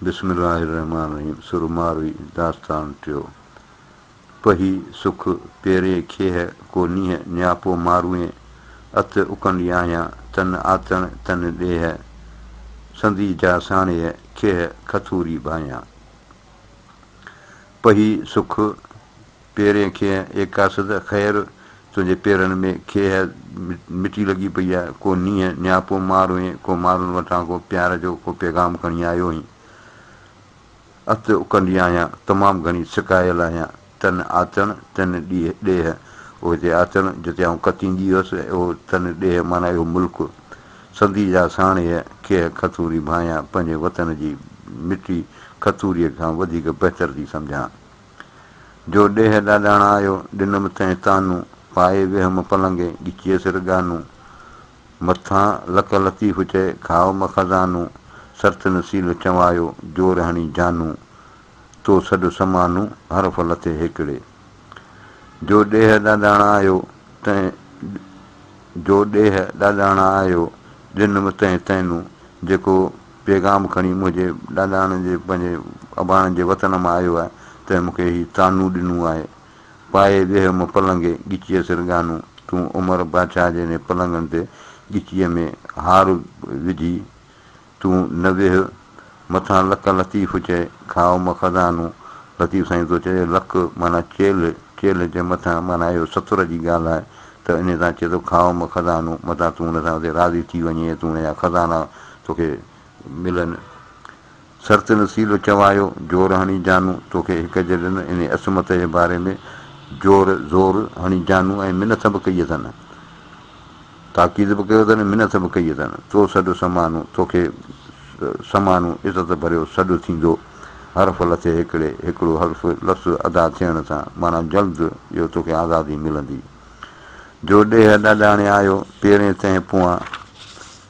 بسم الله الرحمٰن الرحيم سر ماروي داستان ٽيو پهي سک پيري کيهه ڪو نيهه نياپو ماروئين ات اڪنڊي آهيان تن آتڻ تن ڏيهه سندي جا ساڻيهه کيهه کٿوري ڀاهيان پهي سک پيرين کيهه، اي قاصد خير! تنهنجي پيرن ۾ کيهه مٽي لڳي پئي آ، ڪو نينهن نياپو مار هئين، ڪو مارن وٽان ڪو پيار جو ڪو پيغام کڻي آيو هئين. ات اڪنڊي آهيان، تمام گهڻي سڪايل آهيان، تن آتڻ، تن ڏيهه، او هتي آتڻ، جتي آئون ڪتيندي هيس، او تن ڏيهه معنيٰ اهو ملڪ، سندي جا ساڻيهه، کيهه کتوري ڀانئيان، پنهنجي وطن جي مٽي کتوريء کان وڌيڪ بهتر ٿي سمجهان. جو ڏيهه ڏاڏاڻا آيو، ڏنم تنهن طعنو، پائي ويهم پلنگي، ڳچيء سر ڳانو. مٿان لڪ لطيف چئي، کاء م خزانو، سرت نصيل چوايو، زور هڻي جانو، تو سڏ سمانو، حرف لٿي هيڪڙي. جو ڏيهه ڏاڏاڻا آيو، تنهن جو ڏيهه ڏاڏاڻا آيو، ڏنم تنهن طعنو، جيڪو پيغام کڻي منهنجي ڏاڏاڻن جي پنهنجي اباڻن جي وطن مان آيو آهي تنهن مون کي هي طعنو ڏنو آهي پائي ويهه م پلنگي ڳچيء سر ڳانو تون عمر بادشاهه جي ني پلنگن تي ڳچيء ۾ هار وجهي تون نه ويهه مٿان لڪ لطيف چئي کاء م خزانو لطيف سائين تو چئي لڪ معنيٰ چيلهه چيلهه جي مٿان معنيٰ اهو ستر جي ڳالهه آهي ته انهي تان چئي ٿو کاء م خزانو متان تون ان سان اتي راضي ٿي وڃي ۽ تون ان جا خزانا توکي ملن سرت نصيب چوايو، زور هڻي جانو توکي هڪ جڏن انهي عصمت جي باري ۾ زور زور هڻي جانو ۽ منٿ به ڪئي اٿن تاڪيد به ڪيو اٿن منٿ به ڪئي اٿن تو سڏ سمانو توکي سمانو عزت ڀريو سڏ ٿيندو حرف لٿي هڪڙي هڪڙو حرف لفظ ادا ٿيڻ سان معنيٰ جلد جو توکي آزادي ملندي جو ڏيهه ڏاڏاڻي آيو پيرين تنهن پوئان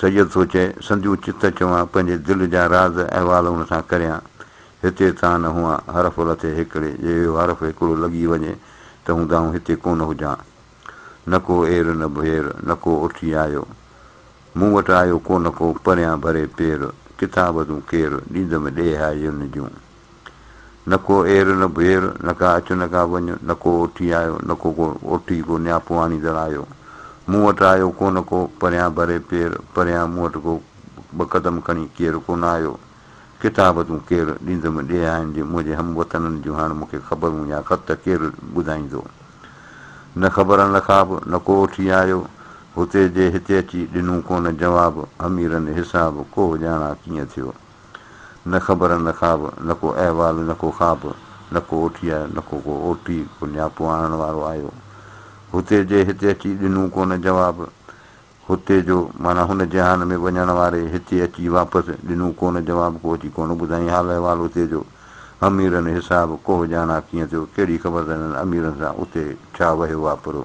سيد ٿو چئي، سنديون چت چوان، پنهنجي دل جا راز احوال هن سان ڪريان. هتي تان نه هئان، حرف لٿي هيڪڙي، جي اهو حرف هيڪڙو لڳي وڃي ته هوند آئون هتي ڪونه هجان. نه ڪو اير نه ڀير، نه ڪو اٺي آيو. مون وٽ آيو ڪونه ڪو، پريان ڀري پير، ڪتاب تون ڪير، ڏيندم ڏيهائين جون. نه ڪو اير نه ڀير، نه ڪا اچ نه ڪا وڃ، نه ڪو اوٺي آيو، نه ڪو ڪو اوٺي ڪو نياپو آڻيندڙ آيو. مون وٽ آيو ڪونه ڪو، پريان ڀري پير، پريان مون وٽ ڪو ٻه قدم کڻي ڪير ڪونه آيو. ڪتاب تون ڪير ڏيندم ڏيهائين جي منهنجي هم وطنن جون هاڻ مون کي خبرون يا خط ڪير ٻڌائيندو. نه خبرن لخاب، نه ڪو اوٺي آيو، هتي جي هتي اچي ڏنون ڪونه جواب، اميرن حساب، ڪوهه ڄاڻا ڪيئن ٿيو. نه خبر نه خواب، نه ڪو احوال نه ڪو خواب، نه ڪو اوٺيء نه ڪو ڪو اوٽي ڪو نياپو آڻڻ وارو آيو. هتي جي هتي اچي ڏنون ڪونه جواب. هتي جو معنيٰ هن جهان ۾ وڃڻ واري هتي اچي واپس ڏنون ڪونه جواب ڪو اچي ڪونه ٻڌائين حال احوال هتي جو. اميرن حساب ڪوهه ڄاڻا ڪيئن ٿيو ڪهڙي خبر ته هنن اميرن سان اتي ڇا وهيو واپرو.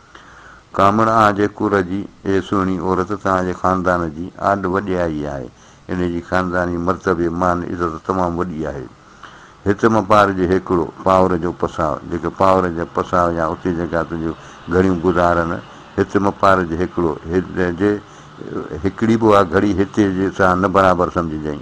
ڪامڻ آ جي ڪر جي، اي سهڻي عورت توهان جي خاندان جي آڏ وڏيائي آهي. ان جي خانداني مرتبي، مان عزت تمام وڏي آهي. هت مان پار جي هيڪڙو، پاور جو پساء، جيڪي پاور جا پساء يا اتي جيڪا تنهنجو گهڙيون گذارن، هت مان پار جي هيڪڙو، جي هيڪڙي به آ گهڙي هتي جي سان نه برابر سمجهجئين.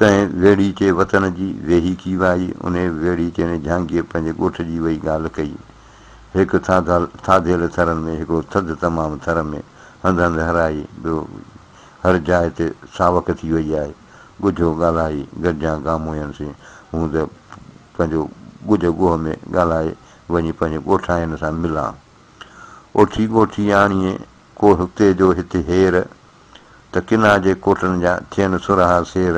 تنهن ويڙهي تي وطن جي ويهي ڪي وائي، انهي ويڙهي تي ني جهانگير پنهنجي ڳوٺ جي وئي ڳالهه ڪئي. هڪ ٿاڌيل ٿرن ۾ هڪڙو ٿڌ تمام ٿر ۾ هنڌ هنڌ هرائي، ٻيو هر جاء تي ساوڪ ٿي وئي آهي. ڳجهو ڳالهائي گڏجان گاموئن سين، هون ته پنهنجو ڳجهه ڳوهه ۾ ڳالهائي وڃي پنهنجي ڳوٺاين سان ملان. اوٺي ڳوٺي آڻيئي ڪوهه ڪي جو هت هير، ته ڪنا جي ڪوٽن جا ٿين سرها سير،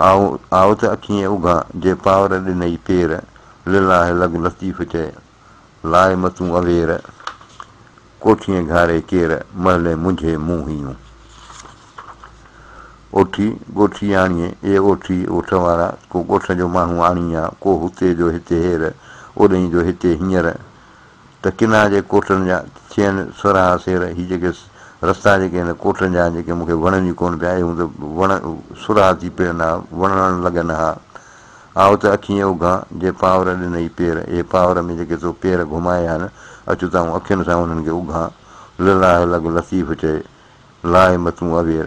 آء آء ته اکيين اگهان جي پاور ڏنئي پير، لله لڳ لطيف چئي، لاء متون اوير، ڪوٺيين گهاري ڪير، محلين منجهي مون هيون. اوٺي ڳوٺي آڻيين، اي اوٺي اوٺ وارا، ڪو ڳوٺ جو ماڻهو آڻيين آ، ڪو هتي جو هتي هير، اوڏهين جو هتي هينئر، ته ڪنها جي ڪوٽن جا ٿين سورهاها سير، هي جيڪي رستا جيڪي هن ڪوٽن جا آهن، جيڪي مون کي وڻن ئي ڪونه پيا، اهي هوند وڻ سورهاها ٿي پيرن ها، وڻڻ لڳن ها. آء ته اکيين اگهان، جي پاور ڏنئي پير، اهي پاور ۾ جيڪي تو پير گهمايا آهن، اچ تان آئون اکين سان انهن کي اگهان. لله لڳ لطيف چئي، لاء متون اوير.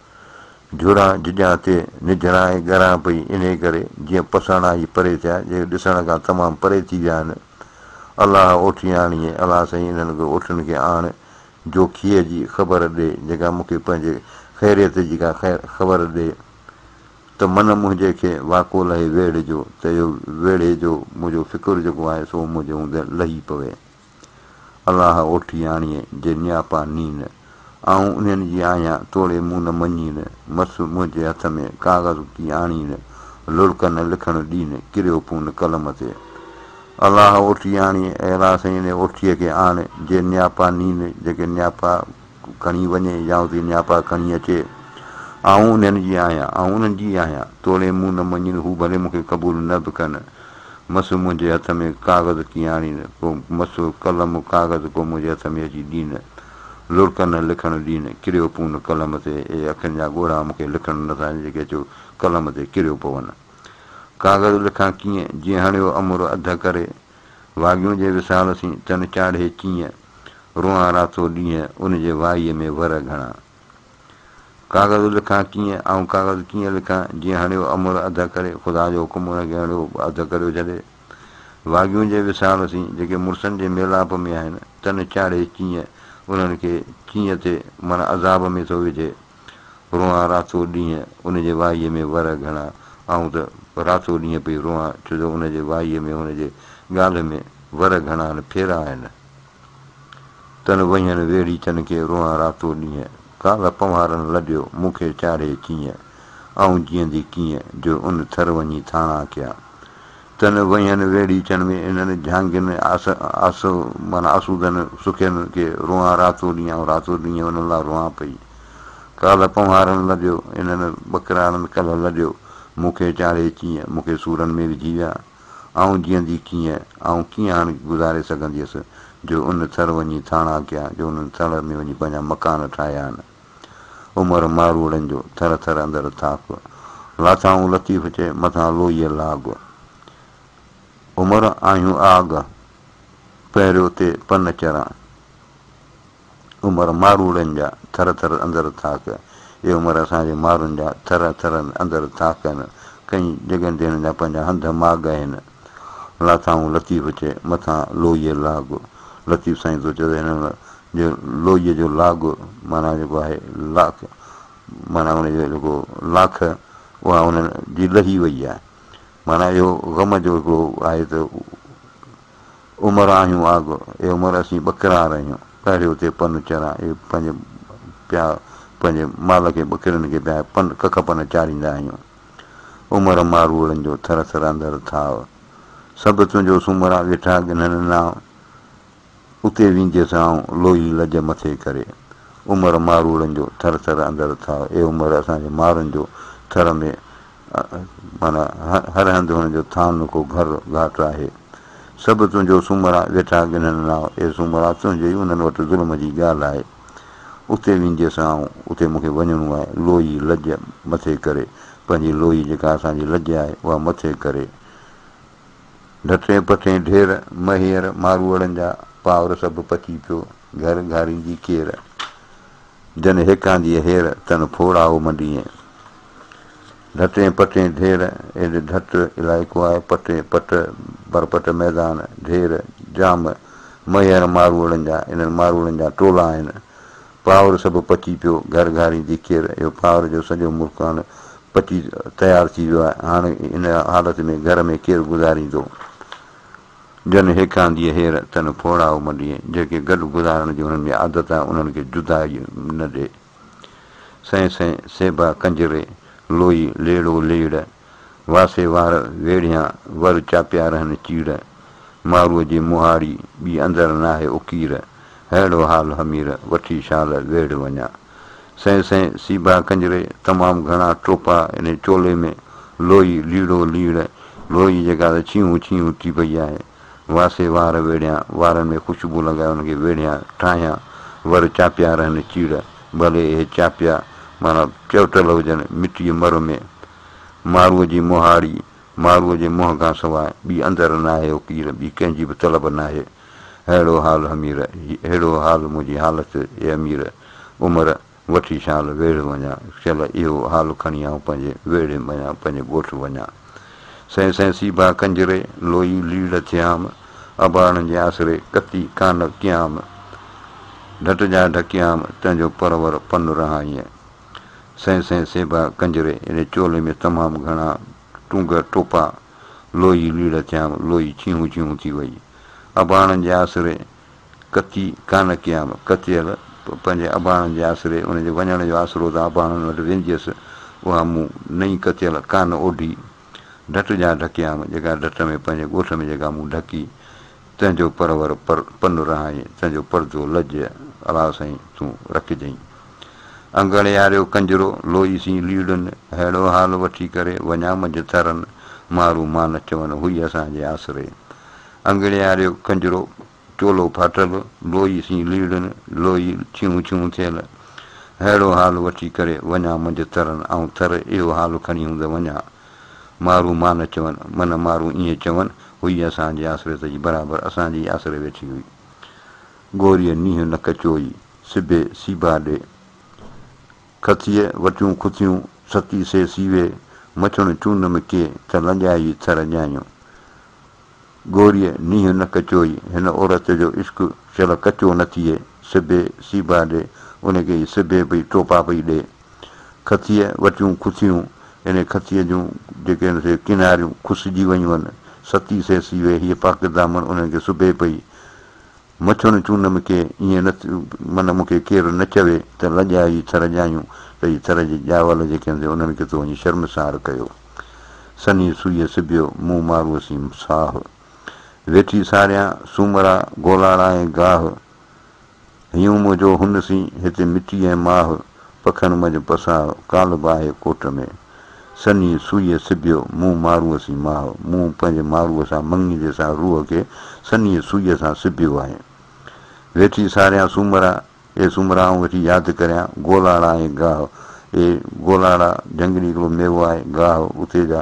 جهڙان جهڄان تي نجهڙان ۽ ڳران پئي انهي ڪري جيئن پساڻا هي پري ٿيا جيڪي ڏسڻ کان تمام پري ٿي ويا آهن الله اوٺي آڻيئي الله سائين انهن کي اوٺن کي آڻ جو کيء جي خبر ڏي جيڪا مون کي پنهنجي خيريت جي ڪا خير خبر ڏي ته من منهنجي کي واڪو لهي ويڙهي جو ته اهو ويڙهي جو منهنجو فڪر جيڪو آهي سو منهنجي هوندي لهي پوي. الله اوٺي آڻيء جي نياپا نين، آئون انهن جي آهيان توڙي مون نه مڃين، مس منهنجي هٿ ۾ ڪاغذ ڪي آڻين، لڙڪ نه لکڻ ڏين، ڪريو پون قلم تي. الله اوٺي آڻيء اي الله سينء اوٺيء کي آڻ جي نياپا نين، جيڪي نياپا. کڻي وڃي يا اتي نياپا کڻي اچي، آئون انهن جي آهيان، آئون انهن جي آهيان، توڙي مون نه مڃين، هو ڀلي مون کي قبول نه به ڪن، مس منهنجي هٿ ۾ ڪاغذ ڪيئن آڻين، ڪو مس قلم ڪاغذ ڪو منهنجي هٿ ۾ اچي ڏين، لڙڪ نه لکڻ ڏين، ڪريو پون قلم تي، اي اکين جا ڳوڙها مون کي لکڻ نه ٿا ڏين جيڪي اچو قلم تي ڪريو پون. ڪاغذ لکان ڪيئن، جي هڻيو امر اڌ ڪري، واڳيون جي وصال سين تن چاڙهي چيئن، روئان راتو ڏينهن ان جي وائيء ۾ ور گهڻا. ڪاغذ لکان ڪيئن، آئون ڪاغذ ڪيئن لکان، جي هڻيو امر اڌ ڪري، خدا جو حڪم ان کي هڻيو به اڌ ڪريو ڇڏي. واڳيون جي وصال سين جيڪي مڙسن جي ميلاپ ۾ آهن، تن چاڙهي چيئن، انهن کي چيئن ٿي، معنيٰ عذاب ۾ ٿو وجهي. روئان راتو ڏينهن ان جي وائيء ۾ ورهه گهڻا، آئون ته راتو ڏينهن پئي روئان، ڇو جو ان جي وائيء ۾ هن جي ڳالهه ۾ ورهه گهڻا نه ڦيرا آهن. تن وهين ويڙهي تن کي روئان راتو ڏينهن، ڪالهه پنوهارن لڏيو مون کي چاڙهي چيئن، آئون جيئندي ڪيئن جو ان ٿر وڃي ٿاڻا ڪيا. تن وهين ويڙهيچن ۾ انهن جهانگين آس آس معنيٰ آسودن سکين کي روئان راتو ڏينهن آئون راتو ڏينهن انهن لا روئان پئي ڪالهه پنهوارن لڏيو انهن ٻڪراڙن ڪلهه لڏيو مون کي چاڙهي چيئن مون کي سورن ۾ وجهي ويا آئون جيئندي ڪيئن آئون ڪيئن هاڻ گذاري سگهنديس جو ان ٿر وڃي ٿاڻا ڪيا جو انهن ٿر ۾ وڃي پنهنجا مڪان ٺاهيا آهن. عمر ماروئڙن جو ٿر ٿر اندر ٿاڪ، لاٿائون لطيف چئي مٿان لوئيء لاڳ. عمر آهيون آڳ، پهريو تي پن چران. عمر ماروئڙن جا ٿر ٿر اندر ٿاڪ، اي عمر اسان جي مارن جا ٿر ٿر اندر ٿاڪ هن. ڪئين جڳن تي هنن جا پنهنجا هنڌ ماڳ هن. لاٿائون لطيف چئي مٿان لوئيء لاڳ. لطيف سائين تو چئو ته هن مهل جي لوئيء جو لاڳ معنيٰ جيڪو آهي لاک معنيٰ ان جو جيڪو لاک اها هن جي لهي وئي آهي. معنيٰ اهو غم جو هڪڙو آهي ته عمر آهيون آڳ، اي عمر اسين ٻڪرا رهيون، پهريو تي پن چران، اي پنهنجي پيا پنهنجي مال کي ٻڪرين کي پيا پن ڪک پن چاريندا آهيون. عمر ماروئڙن جو ٿر ٿرندڙ ٿاء. سڀ تنهنجو سومرا ويٺا ڳنهن ناء. اتي وينديس آئون لوهي لڄ مٿي ڪري. عمر ماروئڙن جو ٿر ٿر اندڙ ٿاء. اي عمر اسان جي مارن جو ٿر ۾ معنيٰ هر هنڌ هن جو ٿان نه ڪو گهر گهاٽ آهي. سڀ تنهنجو سومرا ويٺا ڳنهن ناء. اي سومرا تنهنجي ئي انهن وٽ ظلم جي ڳالهه آهي. اتي وينديس آئون، اتي مون کي وڃڻو آهي. لوئي لڄ مٿي ڪري، پنهنجي لوئي جيڪا اسان جي لڄ آهي، اها مٿي ڪري. ڍٽين پٺين ڍير، مهير، ماروئڙن جا پاور سڀ پچي پيو، گهر گهاريندي ڪير، جن هيڪانديء هير، تن ڦوڙائو منڊيئي. ڍٽين پٽين ڍير، ايڏ ڍٽ علائقو آهي، پٽي، پٽ، برپٽ ميدان، ڍير، جام، مهيڙ ماروئڙن جا، انهن ماروئڙن جا ٽولا آهن. پاور سڀ پچي پيو، گهر گهارين جي ڪير، اهو پاور جو سڄو ملڪ هاڻ پچي تيار ٿي ويو آهي، هاڻ ان حالت ۾ گهر ۾ ڪير گذاريندو؟ جن هيڪانديء هير، تن ڦوڙائو منڊيء، جيڪي گڏ گذارڻ جي هنن ۾ عادت آهي، انهن کي جدائي نه ڏي. سئين سئين سيبا ڪنجري، لوئي ليڙو ليڙ، واسي وار ويڙهيان، ور چاپيا رهن چيڙ، مارو جي مهاڙي، ٻي اندر ناهي اڪير، ههڙو حال همير، وٺي شال ويڙهه وڃان. سئين سئين سيبا ڪنجري، تمام گهڻا ٽوپا انهي چولي ۾، لوئي ليڙو ليڙ، لوئي جيڪا ته ڇيهون ڇيهون ٿي پئي آهي. واسي وار ويڙهيان، وارن ۾ خوشبو لڳائي انهن کي ويڙهيان، ٺاهيان، ور چاپيا رهن چيڙ، ڀلي اهي چاپيا معنيٰ چؤٽل هجن، مٽيء مر ۾. ماروء جي مهاڙي، ماروء جي منهن کان سواء ٻي اندر ناهي او پير، ٻي ڪنهن جي به طلب ناهي. ههڙو حال حمير، ههڙو حال منهنجي حالت اي امير، عمر، وٺي شال ويڙهه وڃان، شل اهو حال کڻي آئون پنهنجي ويڙهي مڃان، پنهنجي ڳوٺ وڃان. سين سين سيبا ڪنجري، لوئي ليڙ ٿيام، اباڻن جي آسري ڪتي ڪانه ڪيام، ڍٽ جا ڍڪيام، تنهنجو پرور پن رهائينء. سين سين سيبا ڪنجري، اڙي چولي ۾ تمام گهڻا ٽونگ ٽوپا، لوئي ليڙ ٿيام، لوئي ڇيهون ڇيهون ٿي وئي، اباڻن جي آسري ڪتي ڪانه ڪيام، ڪتيل پنهنجي اباڻن جي آسري، ان جي وڃڻ جو آسرو تان اباڻن وٽ وينديس، اها مون نئين ڪتيل ڪانه اوڍي، ڍٽ جان ڍڪيام، جيڪا ڍٽ ۾ پنهنجي ڳوٺ ۾ جيڪا مون ڍڪي، تنهن جو پرور پر پن رهائين، تنهن جو پردو لڄ، الا سائين، تون رکجئين. انگڙياريو ڪنجرو، لوئي سين ليڙن، ههڙو حال وٺي ڪري، وڃان منجهه ٿرن، مارون مان نه چون، هئي اسان جي آسري. انگڙياريو ڪنجرو، چولو ڦاٽل، لوئي سين ليڙن، لوئي ڇيون ڇيون ٿيل، ههڙو حال وٺي ڪري وڃان منجهه ترن، آئون تر اهو حال کڻي هوند وڃان. مارو مان چون، من مارو ائين چون، هئي اسان جي آسريت جي برابر اسان جي ئي آسري ويٺي هئي. گوريء نيهه نڪ چوئي، سبي سيبا ڏي. کٿيء وٽيون کٿيون، ستي سي سيوي، مڇڻ چون م ڪي، ته لنجائي ٿر ڄائيون. گوريء نينهن نه ڪچوئي، هن عورت جو عشق شل ڪچو نه ٿئي، سبي سيبا ڏي، ان کي سبي پئي ٽوپا پئي ڏي. کٿيء وٽيون کٿيون، انهيء کٿيء جون جيڪي هن سي ڪناريون کسجي ويون هن، ستي سيسي ويهي پاڪ دامن انهن کي سبي پئي. مڇڻ چون مون کي ائين نه معنيٰ مون کي ڪير نه چوي ته لڄاء جي ٿر ڄايون ته هي ٿر جي ڄاول جيڪي هوندي انهن کي تو وڃي شرمسار ڪيو. سنهي سوئيء سبيو، مون مارو سين ساهه. ويٺي ساريان، سومرا، گولاڙا ۽ گاهه. هيون منهنجو هن سين، هتي مٽي ۽ ماهه، پکن منجهه پساهه، ڪالهه باهه ڪوٽ ۾. سني سوئيء سبيو، مون ماروء سين ماء، مون پنهنجي ماروء سان مڱي جي سان روح کي سنيء سوئيء سان سبيو آهي. ويٺي ساريان سومرا، اي سومرا آئون ويٺي ياد ڪريان، گولاڙا ۽ گاهه، اي گولاڙا، جهنگلي هڪڙو ميوو آهي، گاهه، اتي جا،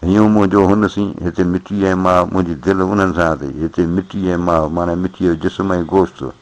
هيون منهنجو هن سين، هتي مٽي ۽ ماء، منهنجي دل انهن سان اٿئي، هتي مٽي ۽ ماء، معنيٰ مٽيء جو جسم ۽ گوشت.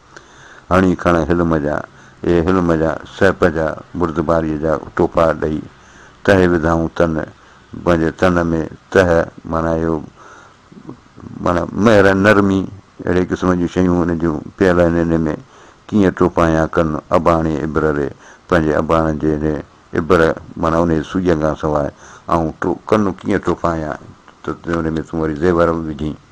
هڻي کڻ حلم جا، اي حلم جا، سهپ جا، بردباريء جا ٽوپا ڏئي، تهه وڌائون تن، پنهنجي تن ۾ تهه معنيٰ اهو معنيٰ مهر، نرمي، اهڙي قسم جون شيون ان جون پيل آهن انهيء ۾ ڪيئن ٽوپايان ڪن اباڻي ابر ري، پنهنجي اباڻ جي انهيء ابر معنيٰ انهيء سوئيء کان سواء آئون ڪن ڪيئن ٽوپايان ته انهيء ۾ تون وري زيور وجهين.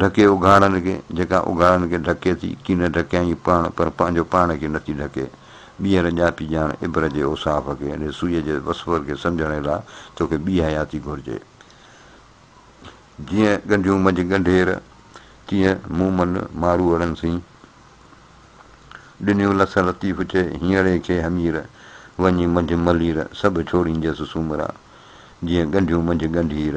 ڍڪي اگهاڙن کي، جيڪا اگهاڙن کي ڍڪي ٿي، ڪي نه ڍڪيائين پاڻ، پر پنهنجو پاڻ کي نٿي ڍڪي. ٻيهر ڄاپي ڄاڻ عبرت جي اوصاف کي، يعني سوئيء جي وسفر کي سمجهڻ لاء توکي ٻي حياتي گهرجي. جيئن ڳنڍيون منجهه ڳنڍير، تيئن مون من ماروئڙن سين. ڏنيون لس لطيف چئي، هينئڙي کي همير، وڃي منجهه ملير، سڀ ڇوڙينجس سومرا. جيئن ڳنڍيون منجهه ڳنڍير،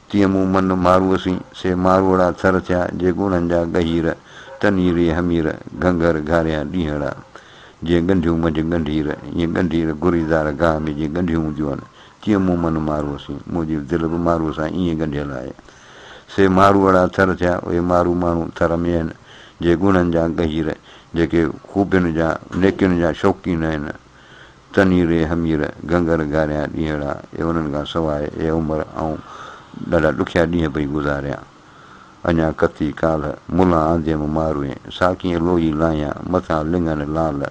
تيئن مون من ماروء سين، سي ماروئڙا ٿر ٿيا، جي ڳوڙهن جا ڳهير، تنهي ري همير، گهنگهر گهاريا ڏينهڙا، جيئن ڳنڍيون منجهه ڳنڍير، ائين ڳنڍير گهريدار گاهه ۾ جيئن ڳنڍيون هونديون آهن، تيئن مون من ماروء سين، منهنجي دل به ماروء سان ائين ڳنڍيل آهي. سي ماروئڙا ٿر ٿيا، اهي مارو ماڻهو ٿر ۾ آهن، جي ڳوڙهن جا ڳهير، جيڪي خوبين جا، نيڪين جا شوقين آهن. تنھيري ھمير گھنگھر گھاريا ڏينھڙا اي انھن کان سواء اي عمر آئون ڏاڍا ڏکيا ڏينھن پئي گذاريان اڃا ڪتي ڪالھ ملان آنديم ماروئين ساڪين لوئي لاھيان مٿان لڱن لعل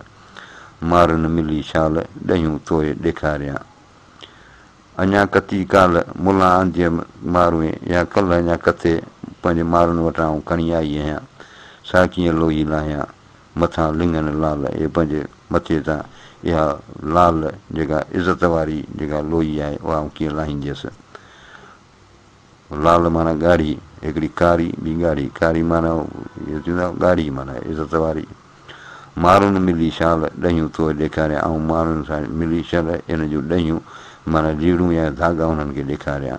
مارن ملي شال ڏھيون توء ڏيکاريان اڃا ڪتي ڪالھ ملان آنديم ماروئين يا ڪلھ اڃا ڪتي پنھنجي مارن وٽان آئون کڻي آئي اھيان ساڪين لوئي لاھيان مٿان لنگهن لعل اي پنهنجي مٿي تان اها لعل جيڪا عزت واري جيڪا لوئي آهي اها آئون ڪيئن لاهينديس. لعل معنيٰ ڳاڙهي، هڪڙي ڪاري ٻي ڳاڙهي، ڪاري معنيٰ اهو ٿيندو آهي ڳاڙهي معنيٰ عزت واري. مارون ملي شال ڏهيون توهي ڏيکاريان آئون مارون سان ملي شل ان جون ڏهيون معنيٰ ليڙون يا ڌاڳا انهن کي ڏيکاريان.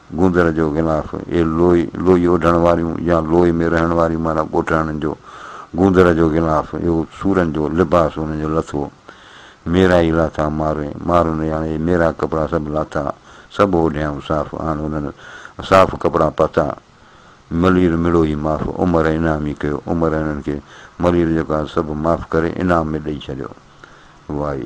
گوندر جو غلاف، اهي لوئي، لوئي اوڍڻ واريون يا لوئي ۾ رهڻ واريون معنيٰ ڳوٺاڻن جو گوندر جو غلاف، اهو سورن جو لباس انهن جو لٿو. ميرا ئي لاٿا مارئي، مارون ري آڻي اهي ميرا ڪپڙا سڀ لاٿا، سڀ اوڍيائون صاف، آڻ انهن صاف ڪپڙا پاتا. ملير مڙو ئي معاف، عمر انعام ئي ڪيو، عمر انهن کي ملير جيڪو آهي سڀ معاف ڪري انعام ۾ ڏئي ڇڏيو. وائي.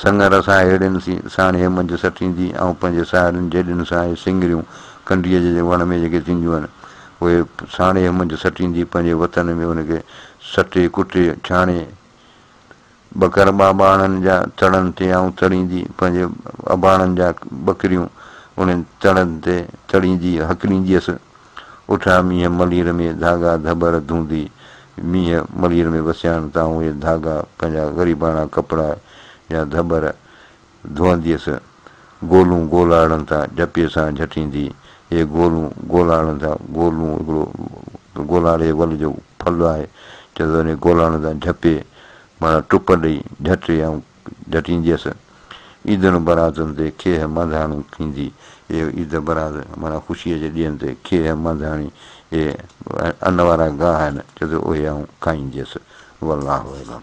سڱر سان هيڙين سين ساڻ هي منجهه سٽيندي ۽ پنهنجي ساهيڙين جيڏن سان هي سينڱريون ڪنڊيء جي وڻ ۾ جيڪي ٿينديون آهن، اهي ساڻ هي منجهه سٽيندي پنهنجي وطن ۾ ان کي سٽي ڪٽي ڇاڻي ٻڪر ٻاٻاهڻن جا تڙن تي آئون تڙيندي پنهنجي اباڻن جا ٻڪريون انهن تڙن تي تڙيندي هڪلينديس ۽ اٺا مينهن ملير ۾ ڌاڳا ڌٻر ڌونڌي مينهن ملير ۾ وسيان تان اهي ڌاڳا پنهنجا غريباڻا ڪپڙا يا ڌٻر ڌوئنديس گولون گولاڙن ٿا جهپي سان جهٽيندي اهي گولون گولاڙن ٿا گولون هڪڙو گولاڙي ول جو ڦل آهي چئجي ٿو انهي گولاڙن ٿا جهپي معنيٰ ٽپ ڏئي جهٽي ۽ ڍٽينديس. عيدن براتن تي کيهه مانڌاڻي کيندي اي عيد برات معنيٰ خوشيء جي ڏينهن تي کيهه مانڌاڻي اي ان وارا گاهه آهن چئي ته اهي آئون کائينديس. والله اعلم.